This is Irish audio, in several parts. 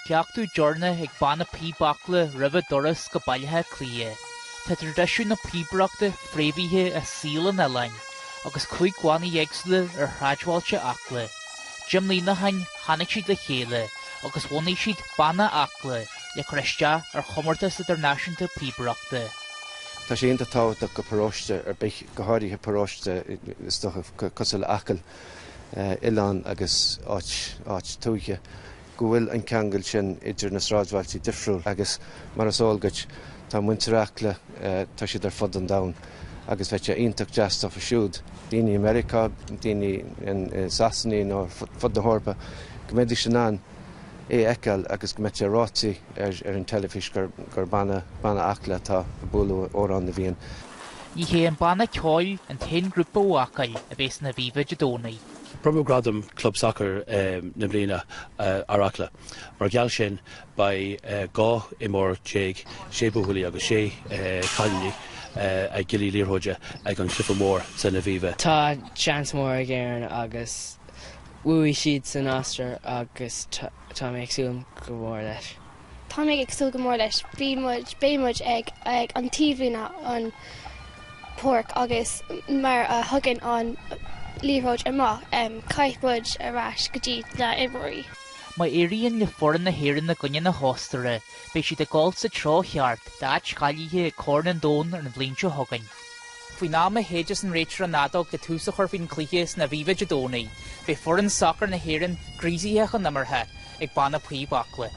Cleachtadh deireanach ag banna píob Acla roimh a dturas go Baile Átha Cliath. Tá traidisiún na píobaireachta fréamhaithe i saol an oileáin, agus cúig bhanna éagsúla ar shráidbhailte Acla. Deich mbliana ó shin, tháinig siad le chéile agus bhunaigh siad Banna Acla le cur isteach ar chomórtas idirnáisiúnta píobaireachta. Tá sé iontach tábhachtach do pharóiste ar bith, go háirithe paróiste, is dócha, cosúil le Acaill, oileán agus áit tuaithe, go bhfuil an ceangal sin idir na sráidbhailte difriúil agus, mar is eol duit, tá muintir Acla, tá siad ar fud an domhain agus bheadh sé iontach deas dófa siúd, daoine i Meiriceá, daoine i Sasana nó ar fud na hEorpa, go mbeidís in ann é a fheiceáil agus go mbeadh sé ráite ar an teilifís gur banna Acla atá ag bualadh Amhrán na bhFiann. Ní hé an banna ceoil an t-aon ghrúpa ó Acaill a bheidh san Aviva Dé Domhnaigh. Bronnadh gradam Club Sacair na Bliana ar Acla. Mar gheall sin, beidh 12 imreoir, 6 buachaillí agus 6 chailíní, ag giollaí liathróide ag an chluiche mór san Aviva. Tá chance mór ag Éirinn agus bhuaigh siad san Ostair agus tá mé ag súil go mór leis. Tá mé ag súil go mór leis. Bhí muid, beidh muid, ag an taobhlíne, an pháirc, agus mar a thugann an liathróid amach, caithfidh muid ar ais go dtí na imreoirí. Má éiríonn le foireann na hÉireann i gcoinne na hOstaire, beidh siad ag dul sa treo cheart d'áit cháilithe ag Corn an Domhain an bhliain seo chugainn. Faoin am a shéideas an réiteoir an fheadóg le tús a chur faoin gcluiche san Aviva Dé Domhnaigh, beidh foireann sacair na hÉireann gríosaithe chun imeartha ag banna píob Acla,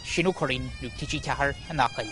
Shane Ó Curraighín, Nuacht TG4 in Acaill.